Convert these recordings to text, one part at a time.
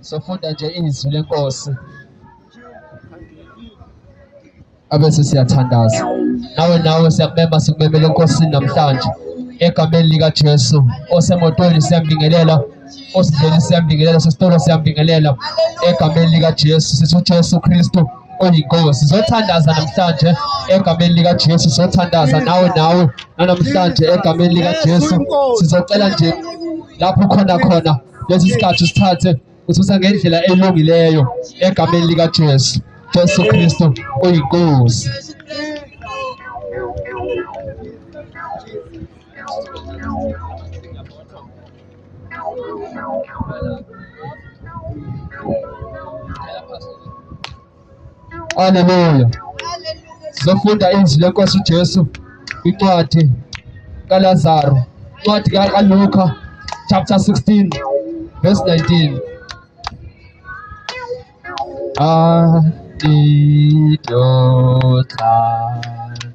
sofunda nje izwi lenkosi abese siyathandaza nawe nawe siyakubema sikumemele enkosini namhlanje egameni likajesu osemotweni siyambingelela osidleni siyambingelela sesitolo siyambingelela egameni likajesu sithi ujesu kristu oyinkosi zothandaza namhlanje egameni likajesu zothandaza nawe nawe nanamhlanje egameni likajesu sizocela nje lapho khona khona lesi sikhathi sithathe ususa ngendlela elungileyo egameni likaJesu Jesu Kristo uyinkosi Haleluya. Sizofunda izwi lenkosi uJesu incwadi kaLazaro, incwadi kaLuka chapter 16 verse 19. Ah, did your time.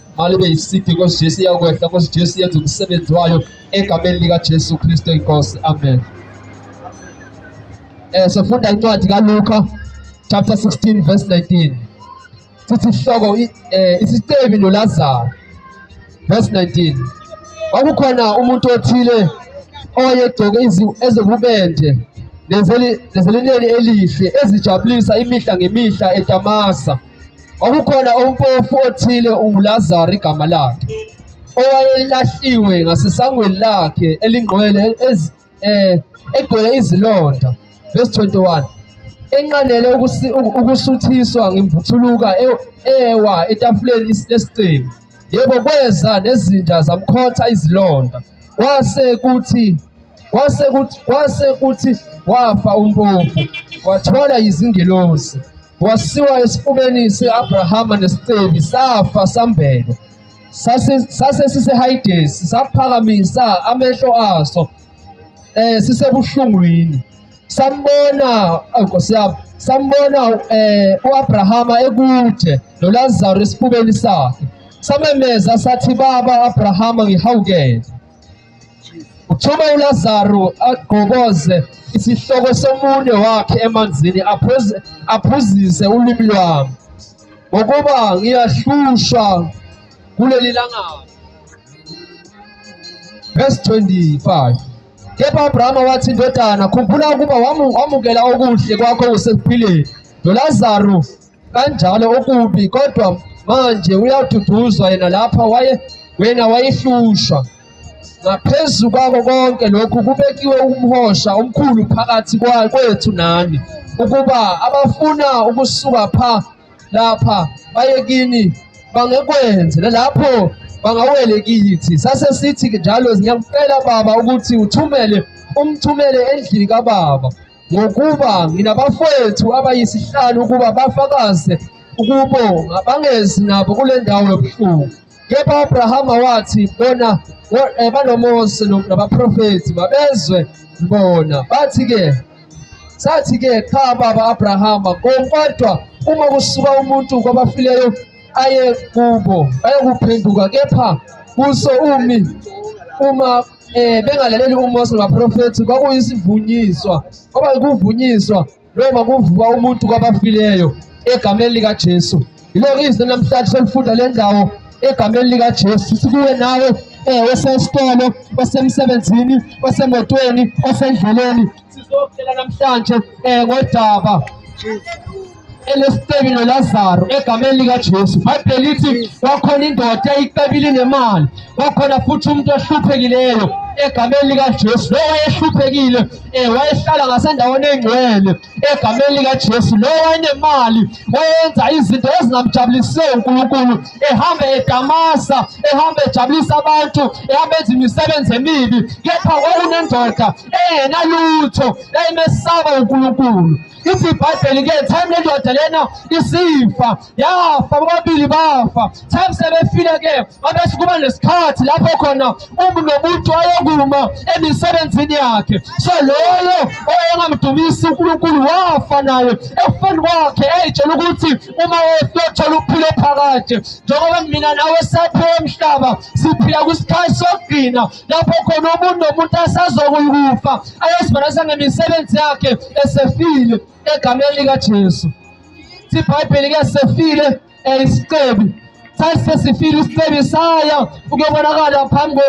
malibe yisiphi nkosi jesu iyakwehla nkosi jesu yenza umsebenzi wayo egameni likajesu kristu inkosi amen um sofunda incwadi kaluka chapter 16 verse 19 sithi ihloko um isicebi nolazaro verse 19 kwakukhona umuntu othile owayegcoke ezobubende nezelineni elihle ezijabulisa imihla ngemihla etamasa Kwakukhona umpofu othile unguLazaro igama lakhe owayelahliwe ngasesangweni lakhe elingqwele eh, egcwele izilonda verse 21 enqanele ukusuthiswa ngemvuthuluka e, ewa etafuleni lesicebi yebo kweza nezinja zamkhotha izilonda kwase kuthi kwase kuthi kwase kuthi wafa umpofu wathola izingelosi Wasiwa esifubeni se-Abrahama nesicebi safa sambelwa. Sase sisehayidesi saphakamisa amehlo aso eh sisebuhlungwini. Sambona Nkosi yami sambona eh uAbrahama ekude noLazaro esifubeni sakhe. Samemeza sathi baba Abrahama ngihawukele. Uthuma uLazaru agqokoze isihloko somunwe wakhe emanzini aphuzise ulimi lwami ngokuba ngiyahlushwa kuleli langabi. Verse 25 kepha uAbrahama wathi indodana khumbula ukuba wamukela okuhle kwakho usekuphileni nolazaru kanjalo okubi kodwa manje uyaduduzwa yena lapha waye wena wayehlushwa ngaphezu kwako konke lokhu kubekiwe umhosha omkhulu phakathi kwethu nani ukuba abafuna ukusuka pha lapha baye kini bangekwenze nalapho bangawele kithi sase sithi njalo ngiyakucela baba ukuthi uthumele umthumele endlini kababa ngokuba nginabafowethu abayisihlanu ukuba bafakaze ukubonga bangezi nabo kule ndawo yobuhlungu kepha uAbrahama wathi bona eh, banoMose nabaprofethi mabezwe bona bathi-ke sathi-ke cha baba Abrahama kodwa uma kusuka umuntu kwabafileyo aye kubo ayokuphenduka kepha kuso umi uma eh bengalaleli uMose nabaprofethi kwakuyisivunyiswa kwaba ukuvunyiswa noma kuvuka umuntu kwabafileyo egameni lika Jesu yiloko izwi namhlanje selifunda le ndawo egameni lika Jesu sikuwe nawe eh osesitolo osemsebenzini osemotweni osendleleni Sizokutshela namhlanje eh ngodaba elesiteki noLazaro egameni likaJesu. Bhayibheli lithi kwakhona indoda eyicebile nemali, kwakhona futhi umuntu ohluphekileyo egameni likaJesu lo wayehluphekile eh wayehlala ngasendaweni engcwele egameni likaJesu lo wayenemali wayenza izinto ezingamjabulise uNkulunkulu ehamba edamasa ehamba ejabulisa abantu ehamba enza imisebenzi emibi kepha kwakunendoda engenalutho emesaba uNkulunkulu ithi ibhayibheli ke time lendoda lena isifa yafa bobabili bafa time sebefile ke babese kuba nesikhathi lapho khona umuntu nomuntu ayokuma emisebenzini yakhe so loyo oyengamdumisi uNkulunkulu wafa naye ekufeni kwakhe eyitshela ukuthi uma wethola uphile phakade njengoba mina nawe saphiwa emhlaba siphila kwisikhathi sokugcina lapho khona umuntu nomuntu asazokuyikufa ayozibonisa ngemisebenzi yakhe esefile egameni likaJesu ibhayibheli ke sefile isicebi sasesifile isicebi saya ukuyobonakala phambi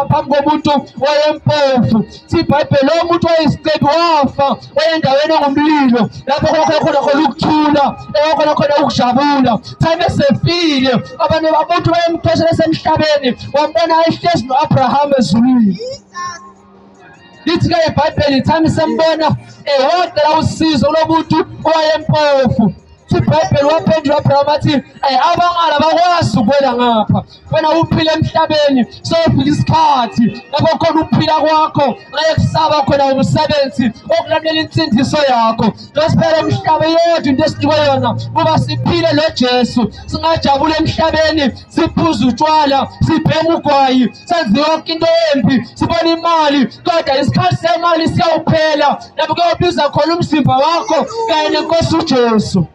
phambi komuntu wayempofu ibhayibheli lowo muntu wayisicebi wafa endaweni engumlilo lapho kwakhe khona khona ukuthula ewakhona khona ukujabula time esefile abantu bamuntu bayempheshela esemhlabeni wambona ayihlezi no-abraham ezulwini lithi ke ibhayibheli time sembona ehogela usizo lomuntu owayempofu ibhayibheli waphendula abraham athi abangala bakwazi ukwela ngapha wena uphile emhlabeni sofika isikhathi lapho khona ukuphila kwakho ngeke kusaba khona umsebenzi okulalela insindiso yakho losiphela umhlaba yodwa into esinikwe yona kuba siphile nojesu singajabula emhlabeni siphuza utshwala sibhema ugwayi senze yonke into embi sibona imali kodwa isikhathi semali siyawuphela lapho kuyobiza khona umzimba wakho kanye nenkosi ujesu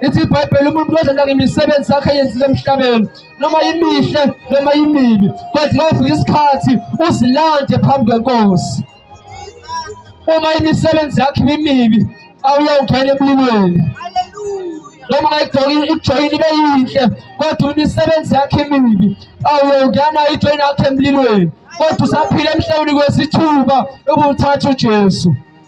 ithi ibhayibheli umuntu wezenda ngemisebenzi sakhe yenzile emhlabeni noma imihle noma imibi kodwa kofika isikhathi uzilande phambi kwenkosi uma imisebenzi yakhe imibi awuyawungena emlilweni noma ungayijoyini ibe yinhle kodwa imisebenzi yakhe imibi awuyongena ijoyini yakhe emlilweni kodwa usaphila emhlabeni kwesithuba ubuthatha ujesu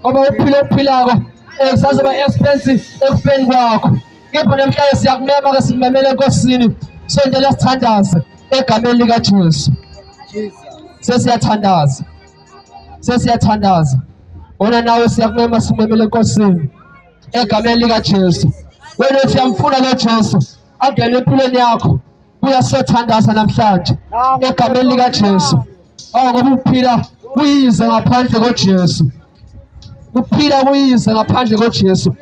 ngoba uphile okuphilako kusazoba expensive ekufeni kwakho kepha namhlanje siyakumema ke simemele enkosini sondela sithandaze egameni likajesu sesiyathandaza sesiyathandaza wena nawe siyakumema simemele enkosini egameni likajesu wena uthi yamfuna lo jesu angene empilweni yakho buya siyothandaza namhlanje egameni likaJesu awu ngoba ukuphila kuyize ngaphandle koJesu ukuphila kuyize ngaphandle koJesu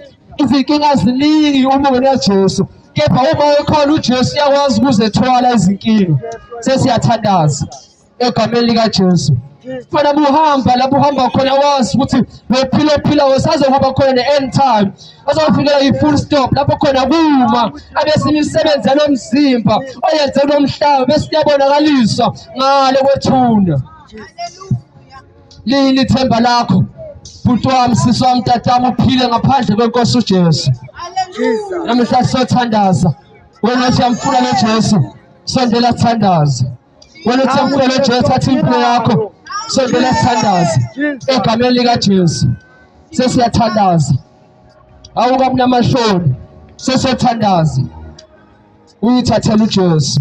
izinkinga ziningi uma ungenaJesu kepha uma ekhona uJesu uyakwazi ukuzethwala izinkinga sesiyathandaza egameni likaJesu fana buhamba lapho uhamba khona wazi ukuthi lophila ophila usazokuba khona ne-end time azofikela i-full stop lapho khona kuma abesinye imisebenzi yalo mzimba oyenze kulo mhlaba besiyabonakaliswa ngale kwethuna lini ithemba lakho bhuti wami sisi wami tatami uphile ngaphandle kwenkosi ujesu namhla siyothandaza wena siyamfuna nojesu sondela thandaza Waletha umfana Jesu thatha impilo yakho. Sondela sithandaze egameni lika Jesu. Sesiyathandaza. Awuka mnamashoni. Sesiyathandaza. Uyithathela uJesu.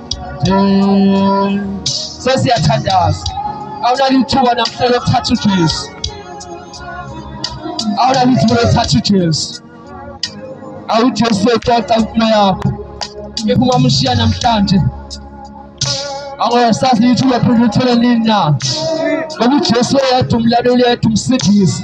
sesiyathandaza awulali ithuba namhla lokuthatha ujesu awulali ithuba lokuthatha ujesu awujesu exoxa impilo yakho if ungamshiya namhlanje angosazi ukuthi uyophinde uthole nini na ngoba ujesu oyedwa umlaleli yedwa umsindisi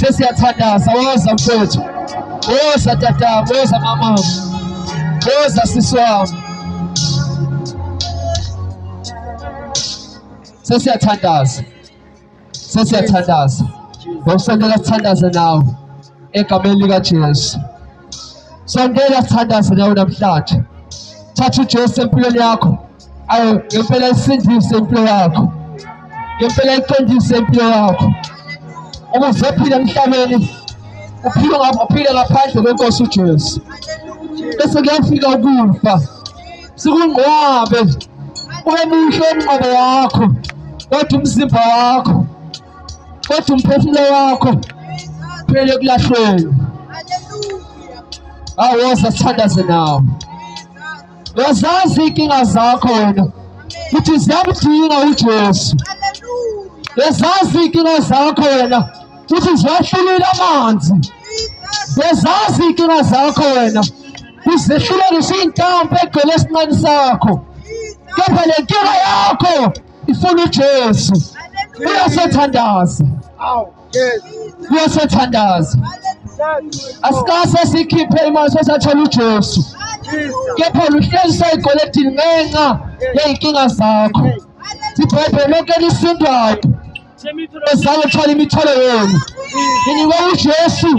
sesiyathandaza woza mfowethu woza tata woza mama woza sisi wami sesiyathandaza sesiyathandaza ngokusondela sithandaze nawe egameni likajesu sondela sithandaze nawe namhlanje thatha ujesu empilweni yakho ayo ngempela isindise impilo yakho ngempela iqondise impilo yakho uma uzophila emhlabeni uphile uphile ngaphandle kwenkosi uJesu bese kuyafika ukufa sikungqwabe ube muhle umnqobo wakho kodwa umzimba wakho kodwa umphefumulo wakho phele kulahlweni awoza sithandaze nawo Uyazazi iy'nkinga zakho wena ukuthi ziyamdinga uJesu. Uyazazi iy'nkinga zakho wena ukuthi ziwahlulile amanzi. Uyazazi iy'nkinga zakho wena kuzehlulelisa iy'ntambo egcwele esinqeni sakho. Kepha le nkinga yakho ifuna uJesu. Uyasethandaza. kuyosothandaza asikase sikhiphe imali sesathola uJesu kepha luhlezi sayigweledini ngenxa yey'nkinga zakho sibhebhe lonke elisindwayo ezalo thwala imithwalo yenu nginikwe ujesu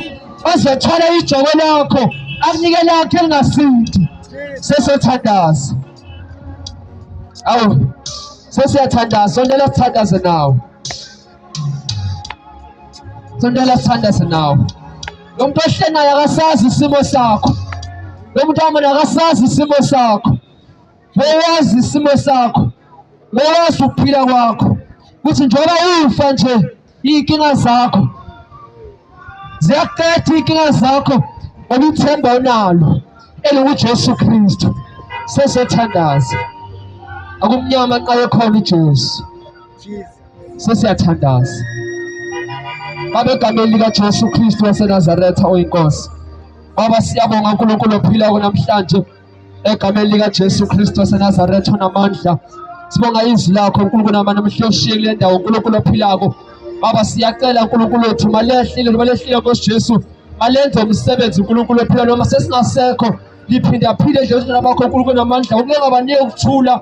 azothwala ijoko lakho akunike lakho elingasindi sesothandaza awu sesiyathandaza sondela sithandaze nawo Sondela sithandaze nawe. Lo muntu ohle naye akasazi isimo sakho. Lo muntu amona akasazi isimo sakho. Bewazi isimo sakho. Bewazi ukuphila kwakho. Kuthi njengoba ufa nje izinkinga zakho. Ziyakuqeda izinkinga zakho ngoba ithemba onalo elinguJesu Kristu. Sesothandaza. Akumnyama xa ekhona uJesu. Jesus. sesiyathandaza Baba egameni likaJesu Kristu waseNazaretha oyinkosi. Baba siyabonga uNkulunkulu ophilayo namhlanje egameni likaJesu Kristu waseNazaretha onamandla. Sibonga izwi lakho uNkulunkulu namana mhloshiye kule ndawo uNkulunkulu ophilako. Baba siyacela uNkulunkulu wethu malehlile malehlile Nkosi Jesu. Malenze umsebenzi uNkulunkulu ophilayo noma sesingasekho liphinda phile nje uNkulunkulu bakho uNkulunkulu namandla. Ukungabanike ukuthula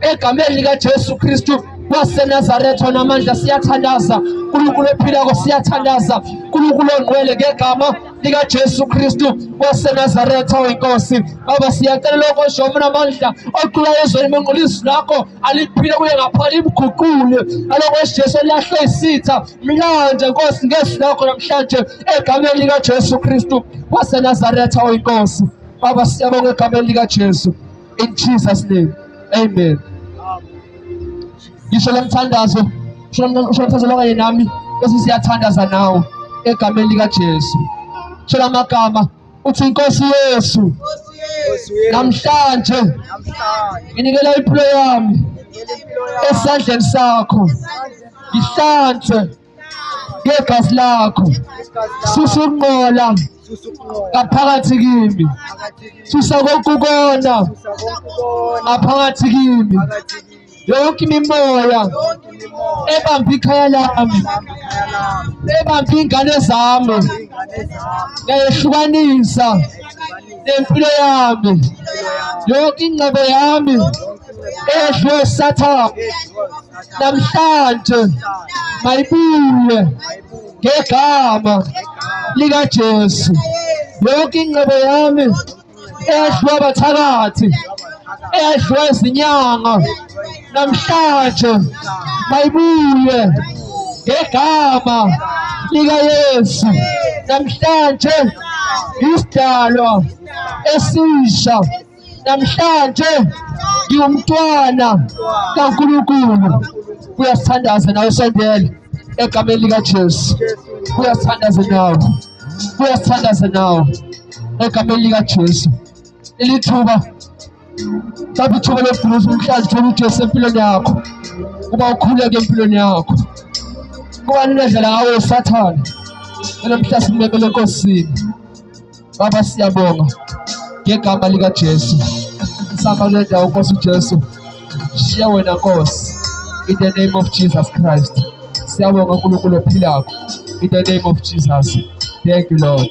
egameni likaJesu Kristu waseNazaretha namandla siyathandaza uNkulunkulu ophilako siyathandaza uNkulunkulu ongcwele ngegama likaJesu Kristu waseNazaretha oyinkosi baba siyacela lokho oshomo namandla oqula ezweni monqulisi lakho aliphile kuye ngaphakathi imguqule alokho esiJesu eliyahle isitha mlanje nkosi ngezwi lakho namhlanje egameni likaJesu Kristu waseNazaretha oyinkosi baba siyabonga egameni likaJesu In Jesus name. Amen. Ngisho lomthandazo, ngisho lomthandazo lokanye nami bese siyathandaza nawo egameni lika Jesu. Shela amagama uthi inkosi Yesu namhlanje nginikela impilo yami esandleni sakho ngihlanze ngegazi lakho susa ukunqola ngaphakathi kimi susa konke ukona ngaphakathi kimi yonke imimoya ebamba ikhaya lami ebamba iy'ngane zami ngayehlukanisa nempilo yami yonke ingcebo yami edlwe sathane namhlanje mayibuye ngegama likaJesu yonke ingcebo yami edlwe abathakathi edlwe izinyanga namhlanje mayibuye ngegama likaYesu namhlanje isidalwa esisha namhlanje ngiwumntwana kaNkulunkulu kuyasithandaza nawe sondela egameni likaJesu kuyasithandaza nawe kuyasithandaza nawe egameni likaJesu ilithuba mhlawumbe ithuba lokuguluza umhlazi thola ujesu empilweni yakho kuba ukhuleke empilweni yakho kubani unedlela ngawo usathane enomhla simemele enkosini baba siyabonga ngegama likajesu sihamba kule ndawo nkosi ujesu shiya wena nkosi in the name of jesus christ siyabonga unkulunkulu ophilakho in the name of jesus thank you lord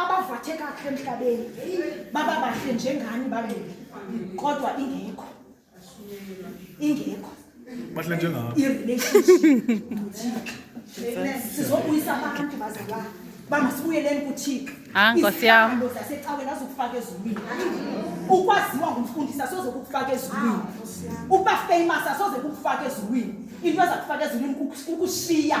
abavathe kahle emhlabeni baba bahle njengani babili kodwa ingekho ingekho bahle njengabo i-relationship sizobuyisa abantu bazalwana bangasibuyeleni kuthixo ah, izihlalo zasecaweni azokufaka ezulwini ukwaziwa ngumfundisi asoze kukufaka ezulwini ah, ukuba famous asoze kukufaka ezulwini into ezakufaka ezulwini kukushiya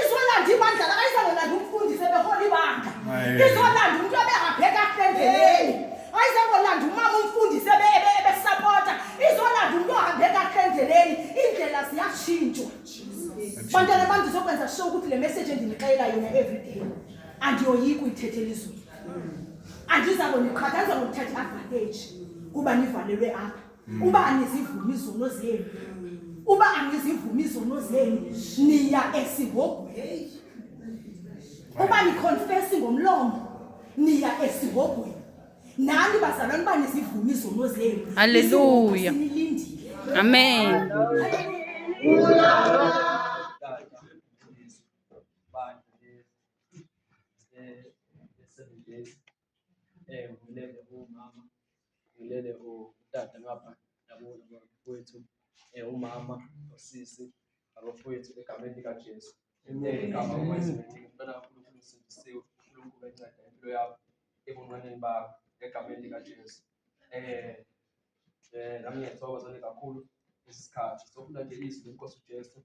izolanda ibandla lakayizangolanda umfundisi ebehola ibandla izolanda umuntu ebengabheka endleleni ayizangolanda umama umfundisi ebesapota izolanda umuntu ohambe kahle endleleni indlela ziyashintshwa bantwana bami ndizokwenza sure ukuthi le message endinixelela yona everyday andiyoyiki uyithethela izulu andizakoniqhatha andizakokuthatha i-advantage kuba nivalelwe apha uba angizivumi izono zenu uba angizivumi izono zenu niya esihogweni uba niconfesi ngomlomo niya esihogweni nani bazalwane uba nizivumi izono zenu halleluya amen Eh ngilele umama. Ngilele utata ngapha yabona kwethu. Eh umama usisi abafowethu egameni lika Jesu. Amen. Ngicela uNkulunkulu usindisiwe, uNkulunkulu enceda impilo yakho ebunqaneni bakho egameni lika Jesu. Eh eh nami ngiyathokoza kakhulu isikhathi sokufunda nje izwi lenkosi uJesu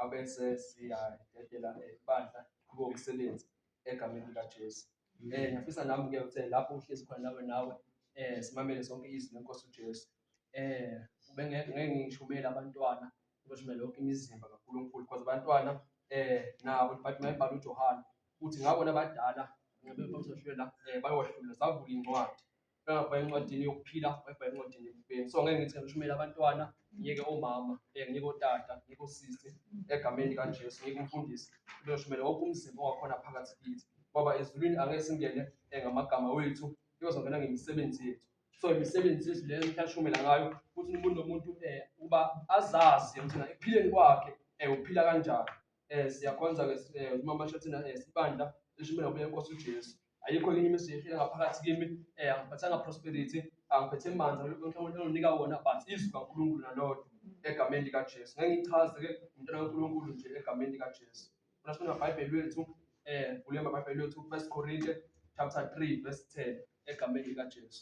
abese siyadedela ibandla kubo umsebenzi egameni likaJesu. Eh ngiyafisa nami ke ukuthi lapho uhlezi khona nawe nawe eh simamele sonke izwi lenkosi uJesu. Eh ubengeke ngeke ngishumele abantwana ubeshumele yonke imizimba kaNkulunkulu because abantwana eh nabo but mayibhala uJohane ukuthi ngabona abadala ngibe bazoshela eh bayohlula savula incwadi engabheka encwadini yokuphila wayibheka encwadini yokubheni so ngeke ngithi ngishumele abantwana ngiyeke omama eh, ngiyeke otata ngiyeke osisi egameni likajesu ngiyeke umfundisi uyoshumele wonke umzimba ongakhona phakathi kithi ngoba ezulwini angeke singene eh, ngamagama wethu iyozongena ngemisebenzi yethu so imisebenzi yethu leyo mhlashumela ngayo ukuthi umuntu nomuntu um eh, ukuba azazi ukuthi ekuphileni kwakhe um uphila kanjani um siyakhonza-ke uma mashathina um sibandla lishumela kubuye nkosi ujesu ayikho enye imizi ehlile ngaphakathi kimi eh angiphathanga prosperity angiphethe manzi uNkulunkulu unika wona but izwi kaNkulunkulu nalodwa egameni lika Jesu ngengichaze ke umntwana kaNkulunkulu nje egameni lika Jesu Funa sifuna iBhayibheli lethu eh vule iBhayibheli lethu 1 Korinte chapter 3 verse 10 egameni lika Jesu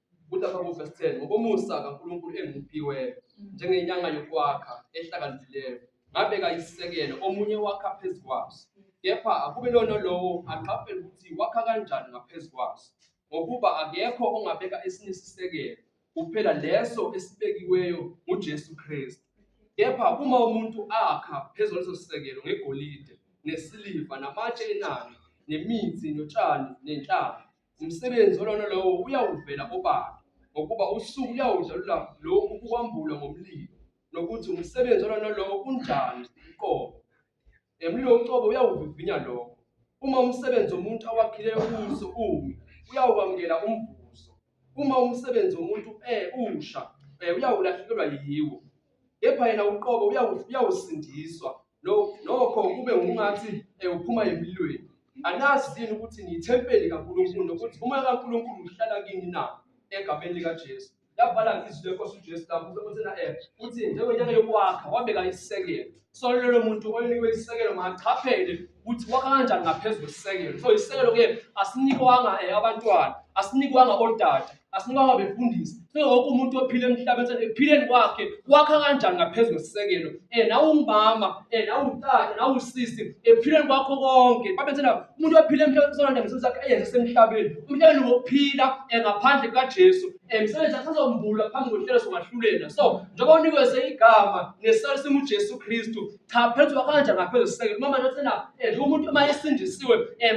Kuthi lapha kuvesi 10 ngokomusa kaNkulunkulu engimuphiweyo njengenyanga yokwakha ehlakaniphileyo ngabeka isisekelo omunye wakha phezu kwaso kepha akube lona lowo aqaphele ukuthi wakha kanjani ngaphezu kwaso ngokuba akekho ongabeka esinye isisekelo kuphela leso esibekiweyo nguJesu Kristu kepha uma umuntu akha phezu kwaleso sisekelo ngegolide nesiliva namatshe enani nemithi notshani nenhlaba Umsebenzi olona lowo uyawuvela obala ngokuba usuku uyawudlalula lokhu kukwambula ngomlilo nokuthi umsebenzi olona lowo unjani uqobo. Emlilo uqobo uyawuvivinya lokho. Uma umsebenzi womuntu awakhileyo kuso umi, uyawukwamukela umvuzo. Uma umsebenzi womuntu eh usha, eh uyawulahlekelwa yiwo. kepha yena uqobo uyawusindiswa nokho kube ungathi eh, uphuma emlilweni anazi yini ukuthi niyithempeli kaNkulunkulu nokuthi umoya kaNkulunkulu uhlala kini na egameni likaJesu yabhala izwi lenkosi uJesu lapho usekhona eh uthi njengenyanga yokwakha wabeka isekelo so lelo muntu olinikwe isisekelo makachaphele ukuthi wakha kanjani ngaphezu kwesisekelo so isisekelo ke asinikwanga eh, abantwana asinikwanga odada asinikwanga befundisi so wonke umuntu ophile emhlabeni ekuphileni kwakhe wakha kanjani ngaphezu kwesisekelo um eh, nawungumama um eh, nawutata nawusisi ekuphileni kwakho konke babethena umuntu ophile emhlabeni sonanda ngeso zakhe eyenze semhlabeni umhlabeni wokuphila um ngaphandle kukajesu emsebenzi athi azombula phambi kohlelo songahlulela so njengoba unikweze igama ngesali simu Jesu Kristu cha phethu wakanja ngaphezulu siseke noma nje thina eh, nje umuntu uma esindisiwe eh,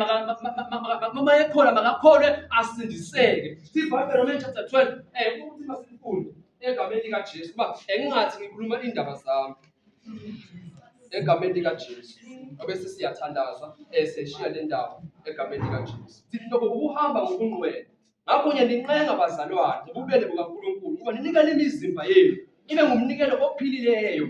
uma ekhona makakholwe asindiseke sibhayibheli Romans chapter 12 eh ukuthi masifunde egameni lika Jesu kuba engingathi ngikhuluma indaba zami egameni lika Jesu obese siyathandaza eh seshiya le ndawo egameni lika Jesu sithi lokho ukuhamba ngokungcwele Ngakho ngiyanincenga bazalwane ngobubele bukaNkulunkulu ukuba ninikele imizimba yenu ibe ngumnikelo ophilileyo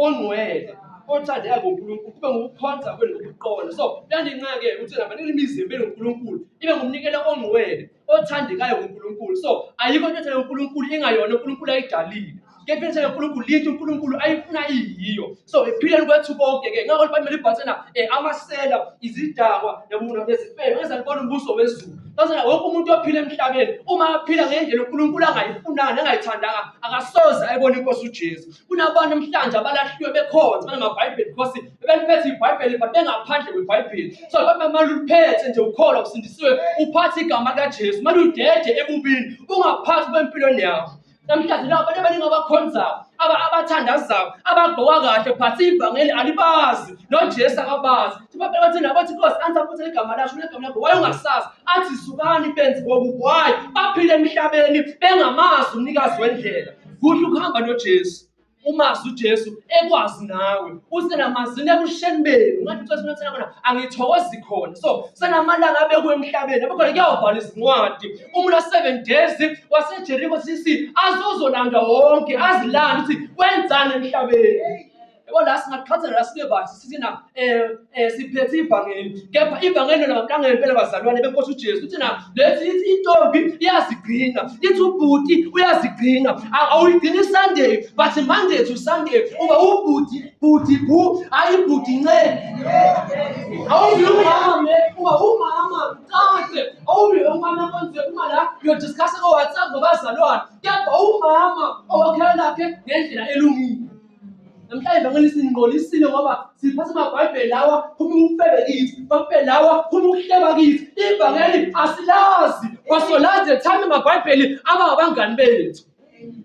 ongcwele othandeka nguNkulunkulu kube ngokukhonza kwenu ngokuqonda so kuyanincenga-ke ukuthi naba ninikele imizimba yenu nguNkulunkulu ibe ngumnikelo ongcwele othandekayo nguNkulunkulu so ayikho into ethandeka uNkulunkulu ingayona uNkulunkulu ayidalile kepha into kaNkulunkulu yinto uNkulunkulu ayifuna iyiyo so ephileni kwethu konke ke ngakho libhayibheli libhathena um eh, amasela izidakwa nezifebe ngezalibona umbuso wezulu bazona wonke umuntu ophila emhlabeni uma aphila ngendlela uNkulunkulu angayifunanga angayithandanga akasoze ayibona inkosi uJesu kunabantu emhlanje abalahliwe bekhonza banamabhayibheli because bebeliphethe ibhayibheli but bengaphandle kwebhayibheli so babe maluliphethe nje ukholo usindisiwe uphathe igama likaJesu maludede ebubini ungaphathi kwempilweni yakho Namhlanje laba abantu abaningi abakhonzayo, aba- abathandazayo, abagqoka kahle but ivangeli alibazi nojesu akabazi Abantu bathi nabo bathi nkosi angisaphuthe igama lasho negama lakho waye ungasazi athi zukani benzi kokubi wayi baphile emhlabeni bengamazi umnikazi wendlela kuhle ukuhamba nojesu umazi uJesu ekwazi nawe usenamazini ebusheni benu ngathi uCesu uthena khona angithokozi khona so senamalanga abekwe emhlabeni abekhona kuyawubhala izincwadi umuntu wa-seven days wasejeriko cc azozolandwa wonke azilanda ukuthi kwenzani emhlabeni yabo la singaqhathela la sibe bathi sithi na um Eh, siphethe ivangeli kepha ivangeli lona ngampela ngempela bazalwane benkosi uJesu uthi na lethi ithi intombi iyazigcina ithi ubhuti uyazigcina awuyigcini Sunday but Monday to Sunday uba ubhuti bhuti bu ayi bhuti nce awubi umama uba umama qade awubi umama konje uma la uyodiscussa ko WhatsApp ngabazalwane kepha umama owakhela lakhe ngendlela elungile Namhlanje vangeli siningqolisile ngoba siphatha amabhayibheli lawa phuma ukufebe kithi bhayibheli lawa phuma ukuhleba kithi ivangeli asilazi wasolazi ethanda amabhayibheli aba abangani bethu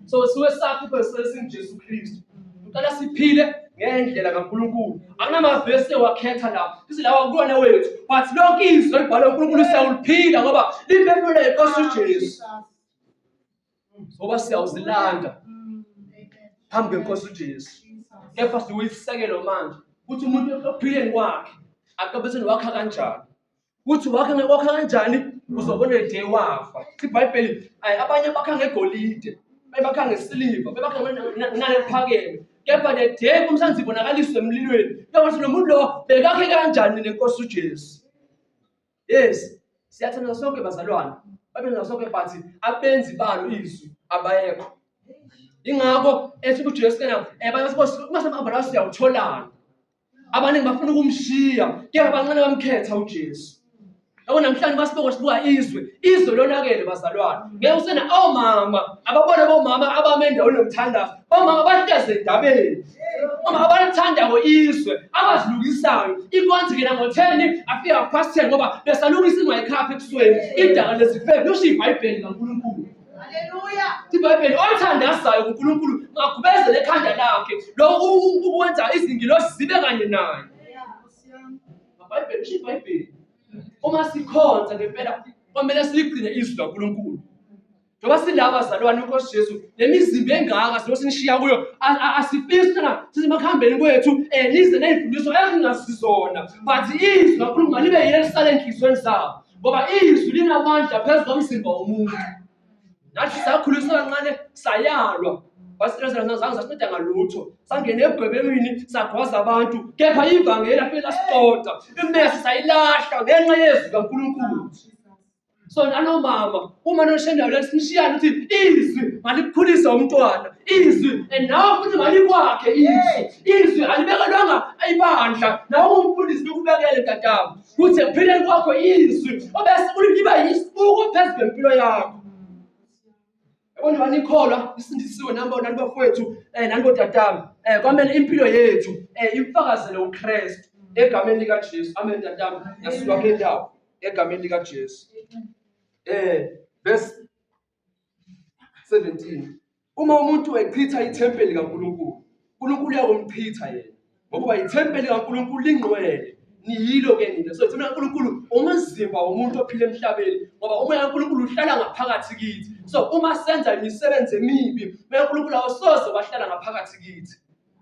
so siwe sakho ibhesesi ngijesu kristu uqala siphile ngendlela kaNkulunkulu akunamavesi ewakhetha la ithi lawa kulona wethu but lonke izwi elibhalwe uNkulunkulu siyawuliphila ngoba liphefumula inkosi uJesu ngoba siyawuzilanda phambi kwenkosi ujesu kepha siwuyisekelo manje ukuthi umuntu ekuphileni kwakhe akabetheni wakha kanjani ukuthi wakha wakha kanjani uzobona day wafa ibhayibheli abanye bakha ngegolide bebakha ngesiliva bebakha nalephakeme kepha the day kumsanzi ibonakaliswe emlilweni kuyokuthi nomuntu lowo bekakhe kanjani nenkosi ujesu yes siyathanda sonke bazalwane babenza sonke but abenzi balo izwi abayekho ingakho ethi ukuthi Jesu kana eh bathi mase abala siyawutholana abaningi bafuna ukumshiya kepha abancane bamkhetha uJesu yabo namhlanje basiboko sibuka izwe izwe lonakele bazalwane ngeke usena omama ababone bomama abame endaweni yokuthandaza omama bahleze endabeni Uma abalithandayo izwe abazilungisayo inkonzi ngena ngo-ten afika half past ten ngoba besalungisa ingayikhaphi ekusweni idala lezifebe lusho ibhayibheli kankulunkulu ibhayibheli olithandazayo kunkulunkulu magubezele ekhanda lakhe lo ukwenza izingilosi zibe kanye naye ibhayibheli usho ibhayibheli uma sikhonza ngempela kwamele siligcine izwi lankulunkulu Njengoba sila abazalwane uNkosi Jesu, le mizimba engaka sibe sinishiya kuyo, a- a- asifisi thina sisemakuhambeni kwethu um nize ney'mfundiso ezingazizona but izwi kaNkulunkulu malibe yilo elisale enhliziyweni zabo ngoba izwi linamandla phezu komzimba womuntu nathi sakhuliswa kancane sayalwa wasirezazange sasinceda ngalutho sangena ebugwebelwini sagwaza abantu kepha ivangeli afike lasixoxa imesi sayilahla ngenxa yezwi kankulunkulu so nanomama uma noshendayo lani sinishiyane ukuthi izwi malikhulisa umntwana izwi and nawe futhi malikwakhe izwi izwi alibekelwanga ibandla nawe umfundisi bekubekele dadabo kuthi ekuphileni kwakho izwi obese uliba yisibuko phezu kwempilo yakho Yabona banikholwa isindisiwe nabo nani bafowethu eh nani botatami eh kwamele impilo yethu eh imfakazele uKristu egameni lika Jesu amen tatami yasuka kule ndawo egameni lika Jesu eh verse 17 uma umuntu echitha ithempeli kaNkuluNkulu uNkulunkulu uyakumchitha yena ngokuba yithempeli kaNkulunkulu lingqwele niyilo ke nina so thina uNkulunkulu umzimba womuntu ophila emhlabeni ngoba umoya kaNkulunkulu uhlala ngaphakathi kithi so uma senza imisebenzi emibi umoya kaNkulunkulu awusoze wahlala ngaphakathi kithi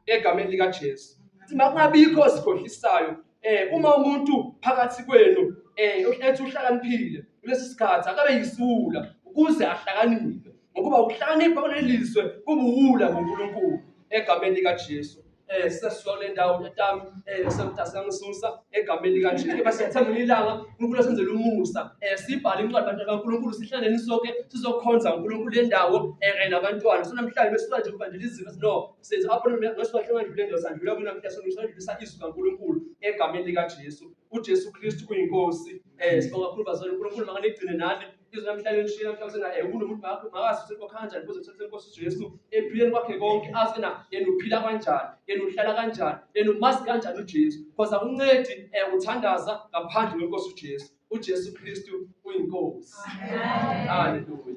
egameni lika Jesu ukuthi makungabikho sikhohlisayo eh uma umuntu phakathi kwenu eh ethi uhlakaniphile kulesi sikhathi akabe yisula ukuze ahlakaniphe ngokuba ukuhlakanipha kunelizwe kubuwula ngoNkulunkulu egameni lika Jesu eh sesiyona indawo tatami eh semtasa ngisusa egameni lika Jesu kepha siyathenga ilanga uNkulunkulu senzele umusa eh sibhale incwadi abantu kaNkulunkulu sihlale nisonke sizokhonza uNkulunkulu lendawo eh kanye nabantwana so namhlanje besifuna nje ukubandela izinto no senze apho ngesibahlenga nje lendawo sandlula kuna mhla songisondlisa izwi kaNkulunkulu egameni lika Jesu uJesu Kristu uyinkosi eh sibonga kakhulu bazali uNkulunkulu makanigcine nani izwi namhlanje lishilo mhlawumbe na ewumuntu umuntu bakho makazi usenkokho kanjani kuze uthole inkosi uJesu ephileni kwakhe konke azi na yena uphila kanjani yena uhlala kanjani yena umazi kanjani uJesu because akuncedi eh uthandaza ngaphandle kwenkosi uJesu uJesu Kristu uyinkosi haleluya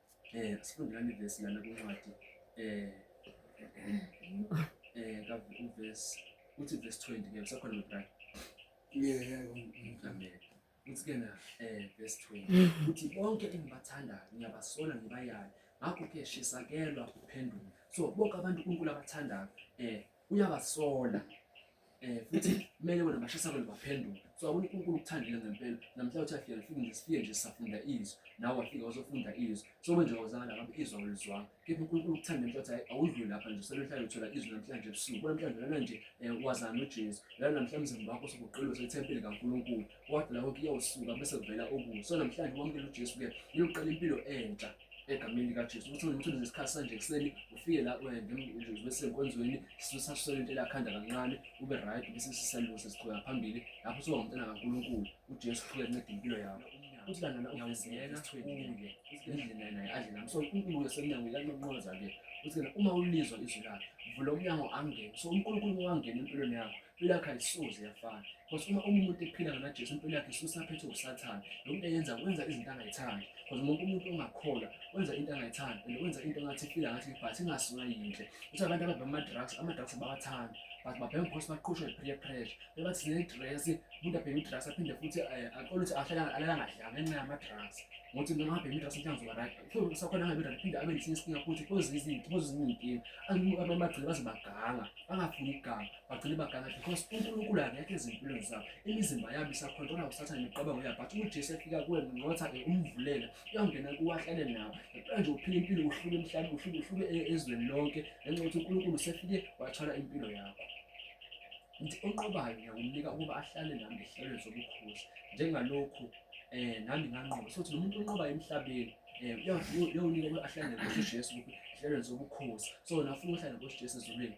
Eh sifundelani verse lana kwincwadi eh eh ka verse uthi verse 20 ke usakhona mntana. Yeah yeah amen. Uthi ke na eh verse 20 uthi bonke engibathandayo ngiyabasola ngibayale ngakho ke shisakelwa kuphendula so bonke abantu uNkulunkulu abathandayo eh uyabasola eh futhi kumele wena bashisa abantu baphenduke so akuna uNkulunkulu ukuthandile ngempela namhla uthi afike ngifike nje sifike nje safunda izwi nawe wafika uzofunda izwi so manje wazakala ngabe izwi awulizwanga kepha uNkulunkulu ukuthanda ngempela ukuthi awudluli lapha nje selomhlanje uthola izwi namhlanje ebusuku namhlanje lana nje eh, wazana uJesu lana namhlanje umzimba wakho sokuqila usethempile kaNkulunkulu wathi lapho kuyawusuka bese kuvela okuso namhlanje wamukela uJesu ke uyoqala impilo entsha egameni likaJesu ukuthi ngimthule ngesikhathi sanje ekuseni ufike la ngesenkonzweni sisasisele into elakhanda kancane ube right bese sisalungu sesiqhubeka phambili lapho usuba ngumntana kaNkulunkulu uJesu uqhubeka enceda impilo yakho futhi lana uyazinikela kuye indlela naye adle nami so uNkulunkulu wesemnyango uyanqoqoza-ke ukuthi-ke uma ulizwa izwi lakhe vula umnyango angene so uNkulunkulu wangena empilweni yakho impilo yakhe ayisoze yafana because uma umuntu ephila ngana Jesu impilo yakhe isuke isaphethwe usathane lo muntu eyenza wenza izinto angayithandi because wonke umuntu ongakholwa wenza into angayithandi and wenza into engathi ifila ngathi but ingasuka yinhle uthi abantu ababhema ama-drugs ama-drugs abawathandi but babhema because baqhushwa i-peer pressure bebathi sine-dress umuntu abhema i-drugs aphinde futhi eh, oluthi alalangadlanga ngenxa yama-drugs ngothi noma abhema i-drugs mhlawumbe uzoba right usakhona angabe right phinde abe nesinye isinkinga futhi kuzizinto kuzizinkinga abamagcile baze baganga bangafuni iganga bagcine bagangathe because unkulunkulu akekho ezimpilweni zabo imizimba yabo isakhontrola usathane imiqabango yabo but ujesu efika kuwe nqotha ke umvulela uyawungena kuwe ahlale nawo ngempela nje uphila impilo uhluke emhlabeni uhluke uhluke e-, ezweni lonke ngenxa yokuthi unkulunkulu usefike wathwala impilo yakho ngithi onqobayo ngiyakumnika ukuba ahlale nami ngehlelweni zobukhosi njengalokhu um nami nganqoba sokuthi nomuntu onqobayo emhlabeni um uyawunika ukuba ahlale nkosi ujesu ehlelweni zobukhosi so nafuna uhlale nkosi ujesu ezulwini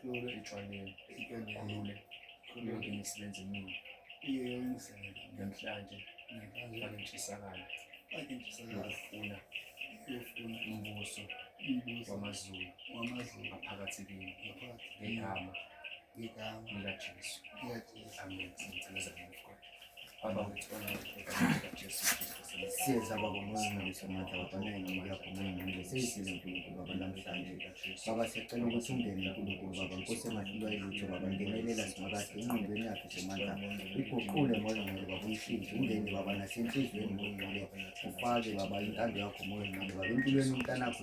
Khulule ejwaleni. Ikende. Khulule. Khulule ngene sibenze mina. Iye yongisele. Namhlanje. Namhlanje. Bakentshisakala. Bakentshisakala. Ngokufuna. Ngokufuna. Umbuso. Umbuso. Wamazulu. Wamazulu. Ngaphakathi kini. Ngaphakathi. Ngegama. Ngegama. LikaJesu. LikaJesu. Amen. Ngicela zamukwa. siyeza baba muzingaliso mata wabanengi yakho muyinile seyisile nkulunkulu baba namhlanje baba siyacela ukuthi ungene nkulunkulu baba nkosi engahlulwa ilutho baba ngenelela simakade enqondweni yakhe semandla iguqule moya ngcwele baba umshintshe ungene baba nasenhliziyweni moya ngcwele ufake baba intando yakho moya ngcwele baba empilweni umntanakho